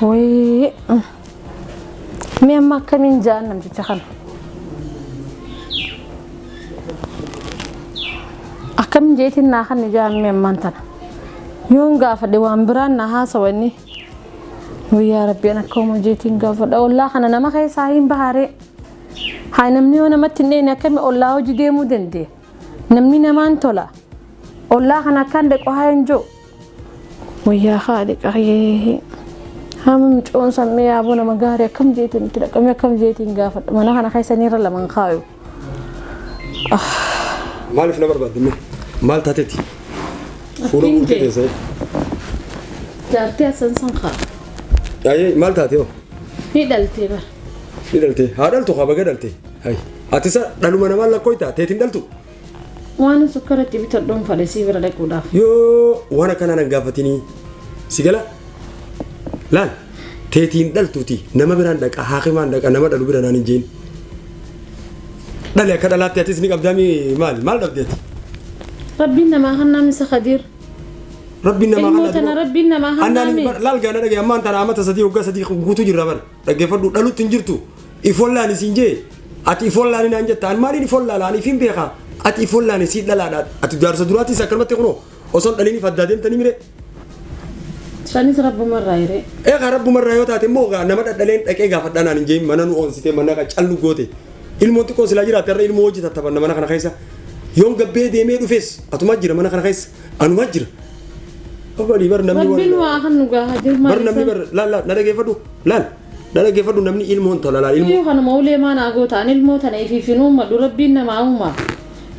Wayii. Mee amma akkamiin ja'an namticha kana? Akkamiin jeetiin naa kan ja'an mee ammaan tana? Yoon gaafadhe waan biraan na haasawanni. Wayyaa rabbiin akka uumu jeetiin gaafadha. Ollaa kana nama keessaa hin baharee. Haa namni yoo namatti hin dheeyne akkami ollaa hojii deemuu dandee? Namni namaan tola. Ollaa kana akkaan dhequ haa hin jiru. Wayyaa haadhi qaree. Haama micoon sammee yaaboo nama gaarii akkam jeetiin itti dhaqamee akkam jeetiin gaafadha. Mana kana keessa niirra lamaan kaayu. Maaliif na barbaadde mee? Maal taateeti? Fuula Akkiin guutuu jee. keessee. Jaartii asan san kaa. Yaayee maal taatee hoo? Ni dhaltee bara. Ni dhaltee. Haa dhaltu haa baga dhaltee. Hayi. Ati isa dhaluma namaan lakkooytaa teetiin dhaltu. Waan sukkara itti bitadhuun fadhe sii bira dhaquudhaaf. Yoo waan akkanaa nan gaafatinii si gala laal teetiin dhaltuuti nama biraan dhaqa haakimaan dhaqa nama dhalu bira naan hin jeen. Dhali akka dhalaatti atis ni qabdaami maal maal dhabdeeti? Rabbiin namaa kan namni isa kadiir. Rabbiin namaa Ilmoo kana tana dura- rabbiin namaa Annaan hannaame. hin bar- laal gaana dhagaye ammaan tana amata sadii waggaa sadii guutuu jirra bar dhaggeeffadhu dhalutti hin jirtu ifollaan isiin jee ati ifollaan inaan jetta an maaliin ifollaa laan ifiin beekaa ati ifollaan isii dhalaadha ati jaarsa duraatiis akkanumatti kunoo osoo hin dhaliiniif addaa deemtanii mire Sanis rabbuma irraa hiree. eegaa rabbumarraa yoo taate immoo egaa nama dhadhaleen dhaqee gaafadhaa naan hin jeemin mana nu oonsitee mana callu goote Ilmoon xiqqoo silaa jiraatte irra ilmoo wajji tattaphanna mana kana keessa. Yoon gabbee deemee dhufes atuma jira mana kana keessa anuma jira. Obbalii bar namni Rabbiin waan- waa kan nu gaaha jiru bar namni bar laal laal na dhageeffadhu laal na dhageeffadhu namni ilmoo hin tola laal ilmoo. Iyyuu kanuma ulee maan haa gootaan ilmoo tana ifiifin uummadhu rabbiin namaa uumaa.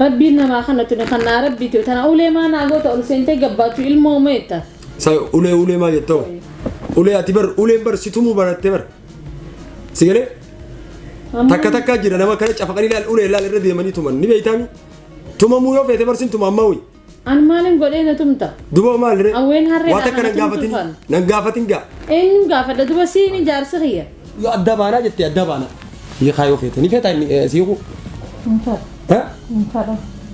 Rabbiin namaa kana tuni kan naa rabbiiti tana ulee maan haa goota ol seentee gabbaachuu ilmoo umeetta. Sa ulee ulee maa jettoo? Ulee ati bar uleen bar situmuu barattee bar. Si galee? Takka takkaa jira nama kana cafaqanii laal ulee laal irra deemanii tuman ni beektaami. Tumamuu yoo feete barsiin tuma ammaa wayii. An maalin godhee na tumta? Duba maal ree? Awween harree Waa takka lafa nan gaafatin tumtuufan. nan gaafatin gaa. Eenyu gaafadha duba siini jaarsi kiyya. Yoo adda baanaa jettee adda baanaa. Hiikaa yoo feete ni feetaa inni eh, si hiikuu. Ha?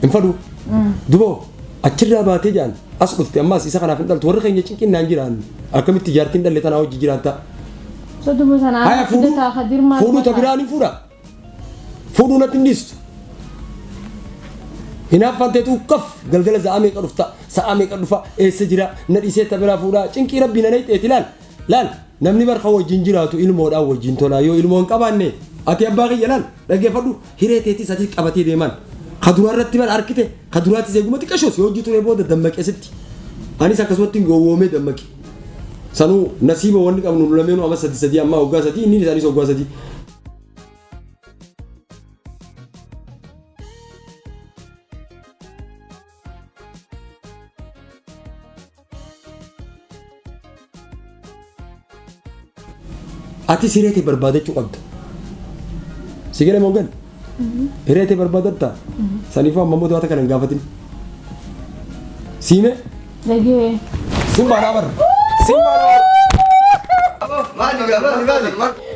Hin fadhu. Duba achirraa baatee jaan as dhufte ammaas isa kanaaf hin dhaltu warri keenya cinqinnaan jiraan akkamitti jaartiin dhalle tanaa hojii jiraattaa. Soduma sana Haya aanaa fuudhuu fidataa kadir maal fuudhuu ta fakkaata? biraan hin fuudha. Fuudhuu natti hin dhiistu. Hinaaffaan teetu ukkaf galgala sa'aa meeqa dhufta sa'aa meeqa dhufa eessa jira na dhiisee ta biraa fuudhaa cinqii rabbii na nayxeeti laal laal namni barka wajjin jiraatu ilmoodhaan wajjin tolaa yoo ilmoo hin qabaanne ati abbaa kiyya laal dhaggeeffadhu Hiree teetii sadii qabatee deemaan. Ka duraa irratti bar arkite ka duraatis eeguma xiqqashoos yoo hojii turee booda dammaqee sitti. Anis akkasumatti gowwoomee dammaqe. Sanuu nasiiba wanni qabnu nu lameenuu amma sadii sadii amma hoggaa sadii inni isaanis hoggaa sadii. Ati siree kee barbaadachuu qabda. Si galee moo gale? Hiree tee barbaadatta? Saniifuu amma immoo wanta kana hin gaafatin. Siime? Dhagee. Simbaa dhaa barra. Simbaa dhaa barra. Maali maali maali.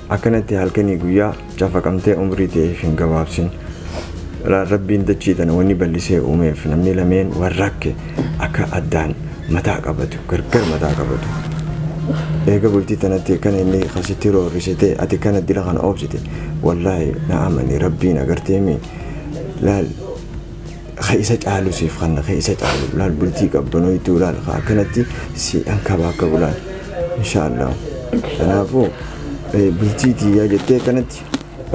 Akkanatti halkanii guyyaa cafaqamtee umrii ta'eef hin gabaabsin. Ra- Rabbiin dachii tana wanni ballisee uumeef namni lameen wal rakke akka addaan mataa qabatu gargar mataa qabatu. Eega bultii tanatti kan inni kasitti roorrise ta'e ati kana dila kana oobsite wallaahi na amani rabbiin agarteemi laal ka isa caalu siif kanna ka isa caalu laal bultii qabbanoytuu laal ka akkanatti si ankaba akka bulaan inshaallah kanaafuu eh, bultii tiyyaa jettee akkanatti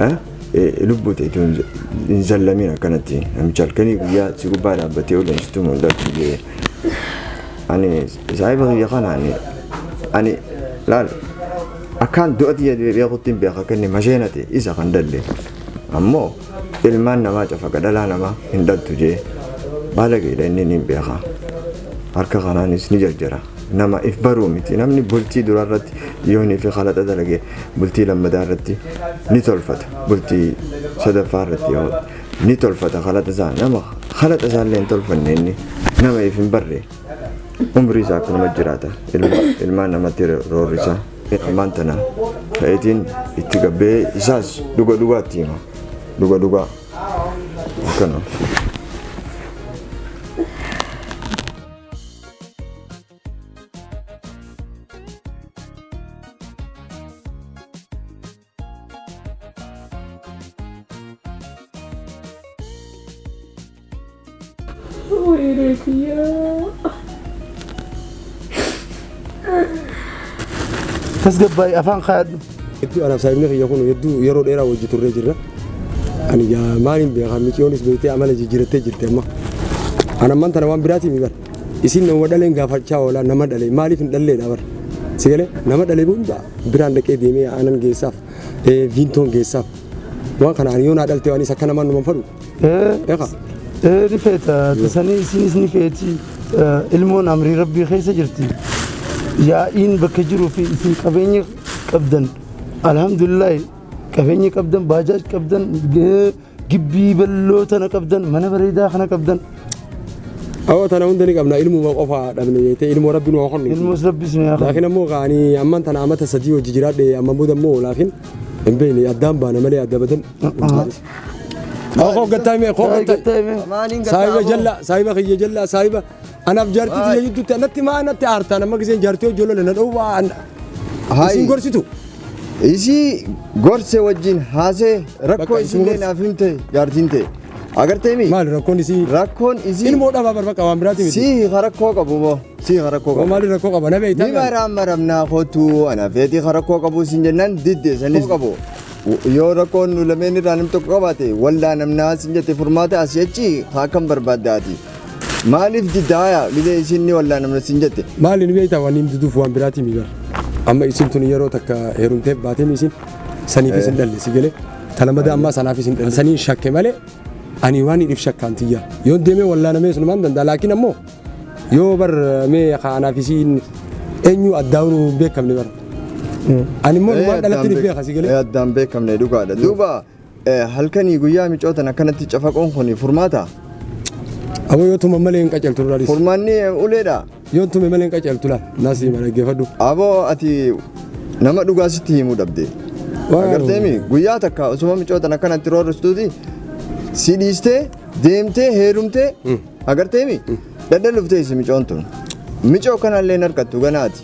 eh, eh, lubbuu ta'e tun hin zallamin akkanatti namicha halkanii guyyaa si gubbaa dhaabbatee oleen situ mul'atu jee ani saahiba kiyya kana ani ani laal akkaan du'a tiyya beekutti hin beeka akka inni masheena ta'e isa kan dalle ammoo Ilmaan namaa cafaqa dhalaa namaa hin dhaltu jee baalageedha inni niin beekaa harka kanaanis ni jarjara nama if baruu miti namni bultii duraa irratti yoonii fi kalaxa dalagee bultii lammadaa irratti ni tolfata bultii sadaffaa irratti yoo ni tolfata kalaxa isaa nama kalaxa isaa illee hin tolfanne inni nama if hin barre umrii isaa akkanuma jiraata ilmaan namatti roorrisaa. Ammaan tana ka'eetiin itti gabbee isaas dhuga dhugaatti hima. Dhuga dhugaa. Akkana. tasgabbaa'e afaan kaadhu. Hedduu anaaf saayimni kiyya kun hedduu yeroo dheeraa wajji turree jirra. Ani gaa maaliin beekaa miiciyoonis beektee amala jijjiirattee jirti amma. Ana amman tana waan biraatiin miidhara. Isin nama dhaleen gaafachaa oolaa nama dhalee maaliif hin dhalleedha bara. Si galee nama dhalee hunda biraan dhaqee deemee aanan geessaaf eh, viintoon geessaaf waan kana ani yoo naa dhalte waan isa akka namaan numan fadhu. Eeqa. Ee ni feeta tasanii isinis ni feeti Eh, ilmoon amrii rabbii keessa jirti yaa'iin bakka jiruu fi isin qabeenya qabdan alhamdulillahi qabeenya qabdan baajaaj qabdan eh, Gibbii balloo tana qabdan, mana bareedaa kana qabdan. Awwa tana hunda ni qabna ilmuma qofa dhabne jettee ilmoo rabbi nu haa kennu. Ilmoos rabbi isin haa kennu. Laakiin ammoo kaani amman tana amata sadii hojii jiraadhe amma booda immoo laakiin hin beekne addaan baana malee adda badan. Koo gattaa mee koo gattaa. Saahiba jalla saahiba kiyya jalla saahiba Anaaf jaartii tiyya jidduutti anatti maa natti aartaan amma giseen jaartii hojii lola na dha'u waa an Hayi. isin gorsitu. Isii gorse wajjin haasee rakkoo Bakka isin isinillee gorse. naaf himte jaartiin ta'e. Agartee mi? Maali rakkoon isii? Rakkoon isii Ilmoo dhabaa barbaqa waan biraati miti. sii ha rakkoo qabu moo sii ha rakkoo Waa qabu. maali rakkoo qaba na beektaa? Ni maraa maramnaa kootu ana feetii ha rakkoo qabu isin jennaan didde sanis qabu. Yoo rakkoon nu lameen irraa nam tokko qabaate waldaa namnaa isin jette furmaata asii achi ha akkam barbaaddaati. Maaliif didda haya gizee isiin ni wallaanamna siin jette. Maali ni beektaa waan inni duduuf waan biraatii mi bara. Amma isin tun yeroo takka heerumteef baatee mi isin saniifis hin dhalle si galee talamada ammaa sanaafis hin dhalle saniin shakke malee ani waan hidhif shakkaan tiyya yoo deemee wallaanamee sunumaan danda'a laakiin ammoo yoo bar mee kaanaaf isiin eenyu addaa'uun hin beekamne bara. Ani immoo waan dhalatti ni beeka si galee. Addaan beekamne dhugaadha. Duuba Halkanii guyyaa micootan akkanatti cafaqoon kun furmaata? Aboo yoo tuman malee hin qaceltu duraadis. Furmaanni uleedha. Yoo tume malee hin qaceltu laa naasii mana geeffadhu. Aboo ati nama dhugaa sitti himuu dhabde. Agarteemi guyyaa takka osuma micootan akkanatti roorristuuti si dhiistee deemtee heerumtee Agarteemi? Dadhan dhuftee isi micoon tun. Micoo kanallee hin harkattu ganaati.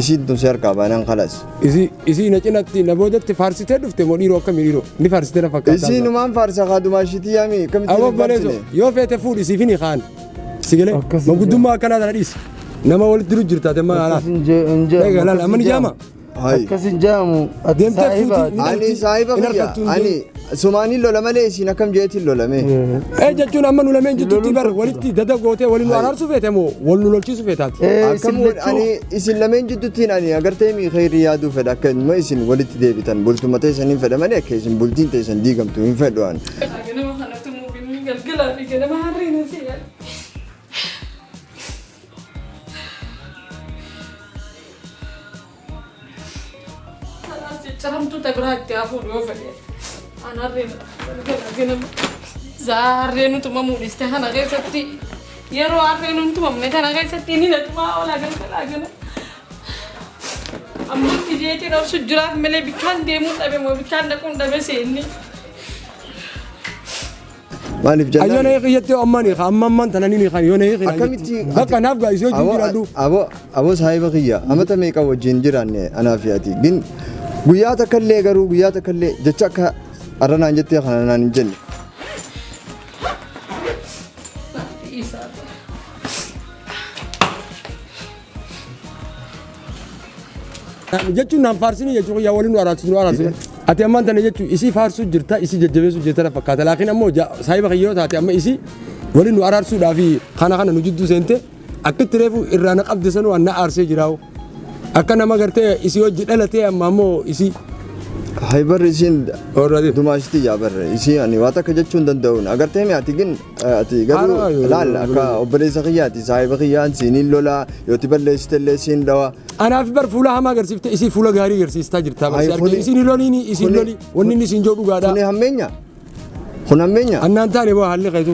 Isiin tun si harkaa baanaan kalas. Isi isi na cinatti na boodatti faarsitee dhufte moo dhiiroo akkamii dhiiroo ni faarsitee na fakkaata. Isiin umaan faarsa kaadumaa shitii yaami akkamittiin Amma hin baleeso faarsine? yoo feete fuudhi siif hin kaan. Sigilee Akkasii maguddummaa akkanaa tana dhiisi. Nama walitti jiru jirtaate maal haala? Hin jee- hin jee- Egaa laala amma ni jaama. Hayi. Akkas hin jaamu. Ati Deemtee saahiba. fuuti. Ani saahiba Hin kiyya. argattu hin Ani sumaaniin lola malee isiin akkam jeetiin lolame. Ee jechuun amma nu lameen jidduutti bar walitti dada gootee waliin nu araarsuu feete moo wal nu lolchiisuu feetaati. Ee, isin Akkam wal- lachuu. ani isin lameen jidduuttiin ani agartee mi kheyrii yaaduu fedha akka immoo isin walitti deebitan bultuma teessan hin fedha malee akka isin bultiin teessan diigamtu hin fedhu ani. Ganama kanatti muufinni galgalaa fi ganama harreen hin si'an. Caramtuu tabiraa itti hafuun yoo fedhe. An harreen gana zaa harreen tumamuu dhiste kana keessatti yeroo harreen hin tumamne kana keessatti inni na tumaa oolaa galgalaa gana. Amma itti jeetii dhabsu jiraaf malee bikkaan deemuu dhabe moo bikkaan dhaquun dhabe seenni. Maaliif jennaan? Ayyana hiikin jettee amman hiika amma amman tana ni hiikan yoona hiikin akkamitti bakka naaf gaa isii wajjin jiraadhu. Aboo aboo saahiba kiyya amata meeqa wajjin jiraanne anaa fi ati gin guyyaa takka illee garuu guyyaa takka illee jecha akka arranaan jettee kana naan hin jenne. jechuun naan faarsinii jechuun yaa waliin nu araarsu nu araarsu ati ammaan tana jechuun isii faarsuu jirta isii jajjabeessuu jirta na fakkaata laakiin ammoo ja- saahiba kiyyoo taate amma isii waliin nu araarsuudhaa fi kana kana nu jidduu seente akkitti reefu irraa na qabde sanuu an na aarsee jiraawu akka nama gartee isii hojji dhalatee amma ammoo isii Hay barri isiin Orraati. dumaashiti yaa barre isii ani waa takka jechuu hin danda'uun agartee mi ati gin Ati garuu Haadha baay'ee laal akka balleessa. obboleessa kiyyaati saahiba kiyyaan siiniin lolaa yooti balleessite illee siin dhawa. Anaaf bar fuula hamaa agarsiifte isii fuula gaarii agarsiistaa jirta. Ay, Barsi argee kuni- isin loliin isin kuni- loli wanni inni isin jedhu dhugaadha. Kuni hammeenya. Kun hammeenya. Annaan taane boo haalli keetu.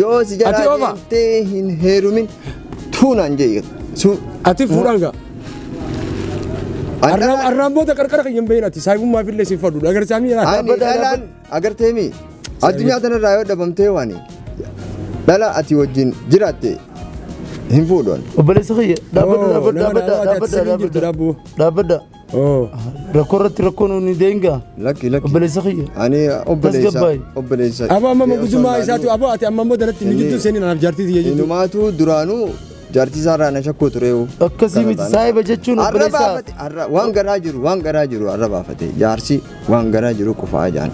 Yoo si jalaa Ati ofa. deemtee hin heerumin tuunaan jee. Su. Ati fuudhaan gaa. Arraan arraan booda qarqara kiyya hin bahin ati saahibummaaf illee siif fadhuudha agarsaa miira. Ani Dhaabbata, dhalaan agartee mi? Addunyaa tanarraa yoo dhabamtee waani. Dhala ati wajjin jiraatte hin fuudhan. Obboleessa kiyya. Dhaabbadha, Oo, dhaabbadha, nama dhaabbadha, daawwate dhaabbadha, asirra hin jirtu dhaabbadha. daabboo. Dhaabbadha. Oo. Rakkoo irratti rakkoo nuun ni deengaa. Lakki lakki. Obboleessa kiyya. Ani obboleessa Tasgabbaa'e. obboleessa. Abo amma Osoo mogudummaa hin isaatu abo ati amma immoo daratti nu Inni- jidduu seenin anaaf jaartii tiyya jidduu. Inumaatu duraanuu jaartii isaa irraa na shakkuu tureewu. Akkasii miti saahiba jechuun Har'a obboleessa. baafate har'a waan garaa jiru waan garaa jiru har'a baafate jaarsi. Waan garaa jiru qufaa jaan.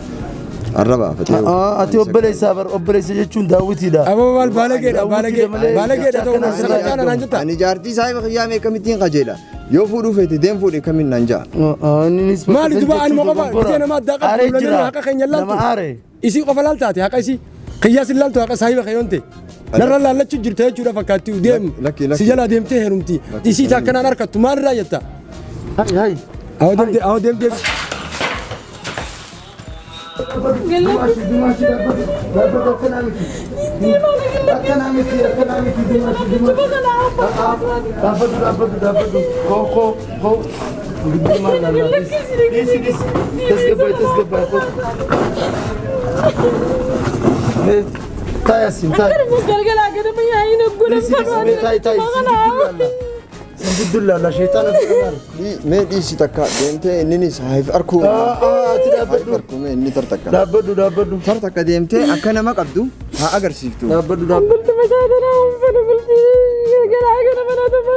Arrabaa fatee. Ati obboleessaa bar obboleessa jechuun daawwitiidha. Aboo maal baalageedha baalagee baalageedha ta'uu naan sirraa caala naan jetta. Ani jaartii saahiba kiyyaa mee kamittiin qajeela. Yoo fuudhuu feete deem fuudhe kamiin naan ja'a. Maali dubaa anuma qofa bitee namaa daaqaa Aaree kuulanii jira. haqa keenya Nama laaltu. aaree. Isii qofa laalta ati haqa isii. Kiyyaa sin laaltu haqa saahiba kee yoon ta'e. Narra laallachu jirta jechuudha fakkaatti deemu. Lakki, lakki. Si jalaa deemtee heerumti. Lakki, Isii isaa kanaan harkattu maalirraa jetta? Hayi hayi. Awwa deemtee awwa deemtee. Dhaabbatu dhaabbatu dhaabbatu. Koo koo. Mee dhiisi takka deemtee inninis haif arkuu. Haif arkuu mee inni tartakka. Dhaabbadhu dhaabbadhu. Tartakka deemtee akka nama qabdu haa agarsiiftu. Dhaabbadhu dhaabbadhu. Bulti mataa tanaa uffata bulti galgalaa kana mana tuma.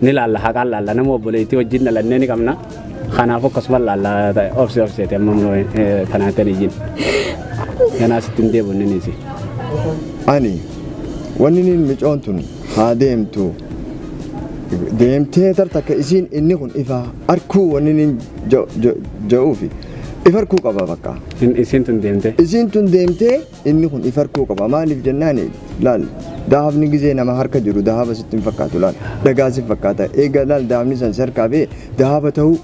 Ni laalla haqaan laalla nama obboleettii wajjin dhalannee ni qabna. Kanaaf akkasuma laalla obsi obseeti amma immoo tanaan tan ijin. Ganaa sitti hin deebi'u inni si. Ani wanni niin micoon tun haa deemtu deemtee tartakka isiin inni kun ifa arkuu wanni niin ja'uufi ifa arkuu qaba bakka. Isiin tun deemtee. Isiin tun deemtee Inni kun if harkuu qaba. Maaliif jennaan laal dahabni gizee nama harka jiru dahaba sitti hin fakkaatu laal dhagaa si fakkaata eega laal dahabni san si harkaa bee dahaba ta'uu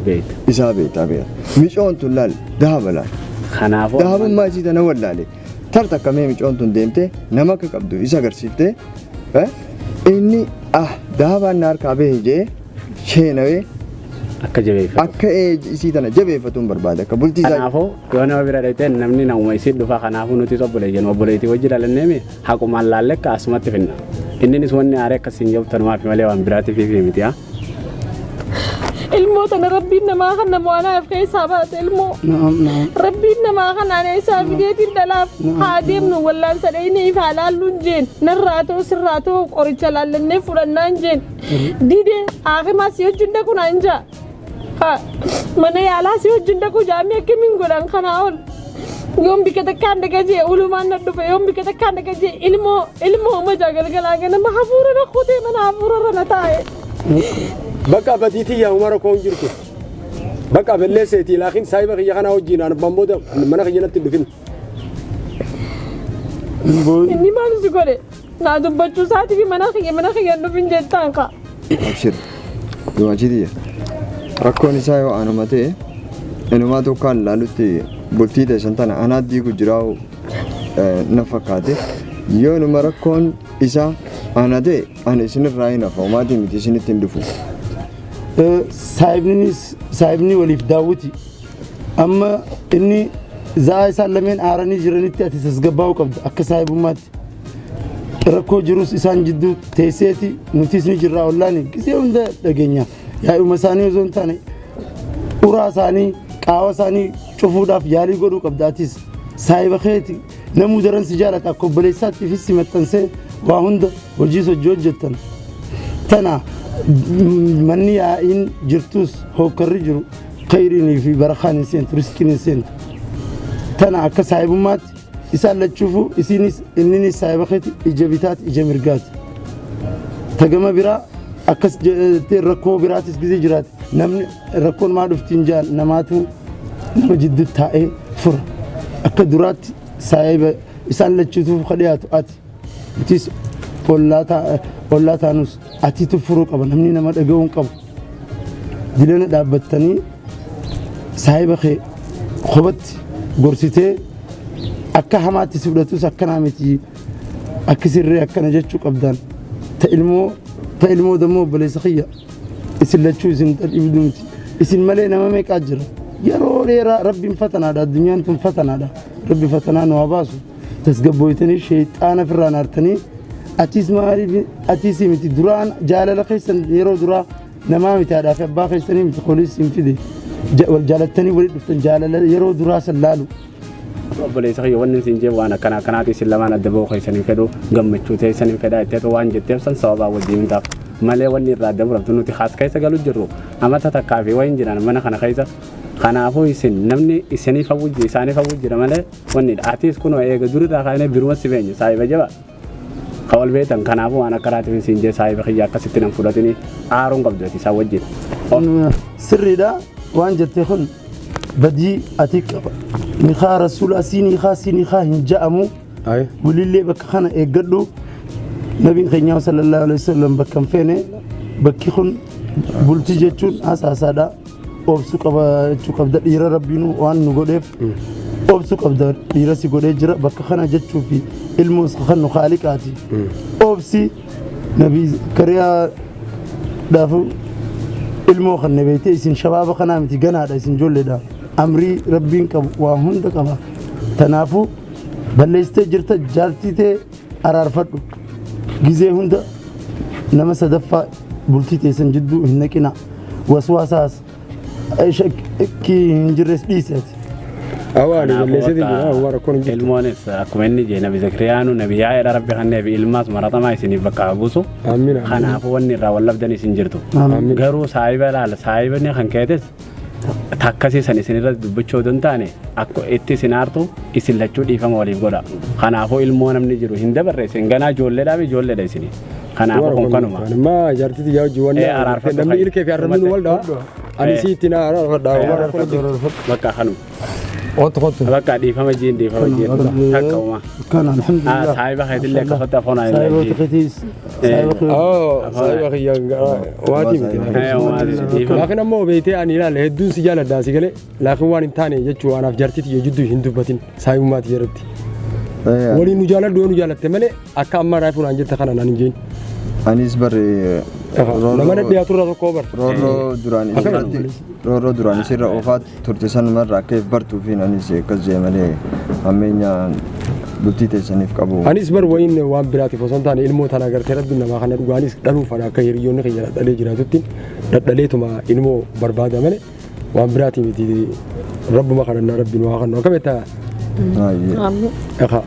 Beekta. isaa beektaa beeka. Micoon tun laal dahaba laal. Kanaafuu Dahabummaa isii tana wallaale. Tar takka mee micoon tun deemtee nama akka qabdu isa agarsiiftee eh, inni ah dahabaan na harkaa bahe jee sheenawee Akka jabeeffatu. akka ee isii tana jabeeffatuun barbaada akka bultii isaa Kanaafuu yoo nama bira dhaqxee namni namuma isii dhufa kanaafuu nutis obbolee jennu obboleetii wajji dhalanneemi haqumaan laalle akka asumatti finna. Inninis wanni aaree akka siin jabtan maafi malee waan biraatiif fi miti haa. Ilmoo tana rabbiin namaa kan nama waan haaf keessaa baate ilmoo. naam naam Rabbiin namaa kanaan eessaa fideetiin dhalaaf haa deemnu wallaan sadhayinii fi haalaalluun jeen narraa ta'u sirraa ta'u qoricha laallannee fudhannaan jeen Dide haakima si wajjin dhaqu naan jaa. Ha mana yaalaa si wajjin dhaqu jaamee akkamiin godhan kanaa ol. Yoon bika takkaan dhaqa jee ulumaan na dhufe yoon bika takkaan dhaqa jee ilmoo ilmoo majaa galgalaa ganama hafuura na kutee mana hafuura irra na taa'e. Bakka abatiitii yaa umara koon jirtu. Bakka abellee seetii laakiin saahiba kiyya kanaa wajjin aan abbaan booda mana kiyya natti hin dhufin. Inni maal si godhe? Naa dubbachuu isaatiif mana kiyya mana kiyya hin dhufin jettaan kaa. Abshir. Dumaachitiya. Rakkoon isaa yoo anuma ta'e inumaa tokkaan ilaalutti bultii teessan tana anaa diigu jiraa'u na fakkaate. Yoo inuma rakkoon isaa ana ta'e ani isinirraa hin hafa maatii miti isinitti hin dhufu. Saahibninis saahibni waliif daawwiti. Amma inni za'aa isaan lameen aaranii jiranitti ati tasgabbaa'uu qabda akka saahibummaatti. Rakkoo jirus isaan jidduu teesseeti nutis ni jirraa ollaani gisee hunda dhageenya. Yaa'uma isaanii osoo hin taane uraa isaanii qaawa isaanii cufuudhaaf yaalii godhuu qabda atis. Saahiba keeti namuu daran si jaalata akka obboleessaatti fi si maxxansee waa hunda hojii hojii hojjettan. Tana manni yaa'iin jirtus hookkarri jiru Kayriinii fi barakaan hin seentu, risqiin hin seentu. Tana akka saahibummaatti isaan lachuufuu isiinis inninis saahiba keeti ija bitaati ija mirgaati. Tagama biraa akkas jettee rakkoo biraatis gizee jiraati. Namni rakkoon maa dhuftiin jaan namaatu nama jidduu taa'ee fura. Akka duraatti saahiba isaan lachuutuuf ka dhiyaatu ati. Itis ollaa taanus atiitu furuu qaba namni nama dhaga'uu hin qabu. Jilana dhaabbattanii saahiba kee kophatti gorsitee akka hamaatti si fudhatus akkanaa miti akki sirree akkana jechuu qabdaan ta ilmoo ta ilmoo dammoo obboleessa kiyya isin lachuu isin dhibdu miti isin malee nama meeqaa jira yeroo dheeraa rabbiin fatanaadha addunyaan kun fatanaadha rabbi fatanaa nu haa baasu. tasgabbooytanii sheexaana firraan aartanii achiis maaliif achiis miti duraan jaalala keessan yeroo duraa namaa miti haadhaa fi abbaa keessanii miti kunis hin fide Ja- wal jaalattanii walitti dhuftan jaalala yeroo duraa san laalu obboleessa kiyya wanni isin jee waan akkana akkanaati isin lamaan adda ba'uu keessan hin fedhu gammachuu teessan hin fedha itti waan jetteef san sababaa wajjin hin taaf malee wanni irraa adda murabtu nuti haas keessa galu jirru amata takkaa fi waan jiran mana kana keessa kanaafuu isin namni isiniif hawwujji isaaniif hawwujjira malee Wannidha. Atis kunoo eega durirraa kaanee biruma si beenye saahiba jaba. Ka wal beektan kanaafuu waan akka raatiif siin jee saahiba kiyya akkasitti nan fudhatini aaruun qabdu ati isaan wajjin. Mm, sirriidha waan jette kun badii ati qaba nikaa rasuulaa sii nikaa sii nikaa hin ja'amu Ayi. walillee bakka kana eeggadhu nabiin keenyaa sallallahu alaihi wasallam bakka hin feene bakki kun bultii jechuun hasaasaadha obsu qabaachuu qabda dhiira rabbiin waan nu godheef obsu qabda dhiira si godhee jira bakka kana jechuu fi ilmoo isa kan nu kaaliqaati obsi nabii kariyaa dhaafu ilmoo kan nabeete isin shabaaba kanaa miti ganaadha isin ijoolleedha amrii rabbiin qabu waa hunda qaba tanaafuu balleessitee jirta jaartii tee araarfadhu gizee hunda nama sadaffaa bultii teessan jidduu hin naqina waswaasaas shakkii hin jirres dhiisi ati Awaani balleessee jira waan rakkoon hin jirtu. Ilmoonis akkuma inni jee nabi Zakiriyaanu nabi yaa'eedha rabbi kan neefi ilmaas maratamaa isiniif bakka haa buusu. Amiin amiin. Kanaafuu wanni irraa wal labdan isin jirtu. Amiin. Garuu saahiba ilaala saahibni kan keetes takkasii san isin irratti dubbachuu odoo hin taane akka itti isin aartu isin lachuu dhiifama waliif godha. Kanaafuu ilmoo namni jiru hin dabarre isin ganaa ijoolleedhaa fi ijoolleedha isin. Kanaafuu kun kanuma. Amma jaartii tiyyaa hojii wanna Eh, araarfadhu namni fa'i. ilkee fi arrabni nu waldhaa. Ani Eh. si itti naa araarfadhaa. Bakka kanuma. Otu kotu. Bakka dhiifama jiin dhiifama jiin takka uma. Kan alhamdulillah. Saahiba keetillee akka fatta afona hin Saahiba laajii. keetiis. Saahiba keetiis. Oo, saahiba kiyya waatii miti. Laakiin ammoo beektee ani ilaale hedduun si jaaladha si galee laakiin waan hin taane jechuu anaaf jartiiti yoo jidduu hin dubbatin saayummaati jedhatti. Waliin nu jaaladhu yoo nu jaalatte malee akka amma raafuu naan jette kana naan hin jeen. Anis barree Nama nadhiyaatu irraa tokko bar. roorroo duraan Akkana. isirratti Roorroo duraan isirra oofaa turte sanuma irraa akka if bartuufiin anis akkas jee malee hammeenya bultii teessaniif qabu. Anis bar wayiin waan biraatiif osoo hin taane ilmoo tana agartee rabbiin namaa kana dhugaanis dhaluuf fana akka hiriyoonni keenya dhadhalee jiraatutti dhadhaleetuma ilmoo barbaada malee waan biraatii miti rabbuma kadhannaa rabbiin waa kannu akka beektaa Baay'ee. Ameen. Ekaa.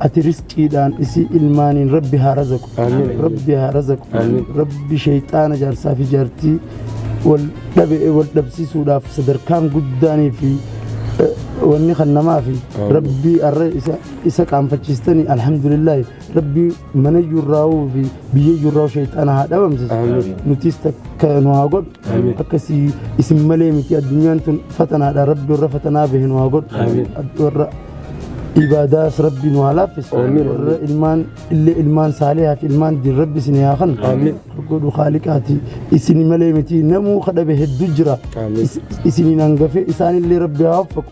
ati risqiidhaan isii ilmaaniin rabbi haa razaqu rabbi haa razaqu rabbi sheyxaana jaarsaa fi jaartii wal dhabe wal dhabsiisuudhaaf sadarkaan guddaanii fi eh, wanni kan namaa fi rabbi arra isa isa qaanfachiistanii alhamdulillaahi rabbi mana yurraa'uu fi biyya yurraa'u sheyxaana haa dhabamsisu nutiis takka nu haa godhu akkasii isin malee miti addunyaan tun fatanaadha rabbi warra fatanaa bahe nu haa godhu warra ibaadaas rabbi nu haa laaffisu warra ilmaan illee ilmaan saalihaaf ilmaan diin rabbi isin haa kan godhu khaaliqaati isin malee miti namuu kadhabe hedduu jira isiniin hangafe isaanillee rabbi haa waffaqu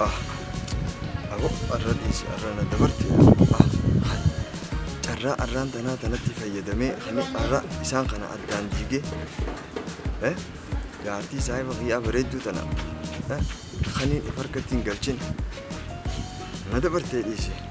Ah, aboo arra dhiisi arra na dabarti. Ah, hai. carraa arraan tanaa tanatti fayyadamee ani arra isaan kana addaan diigee eh, jaartii saahiba kiyyaa bareedduu tana eh, Kaniin if harkatti hin galchin na dabartee dhiise.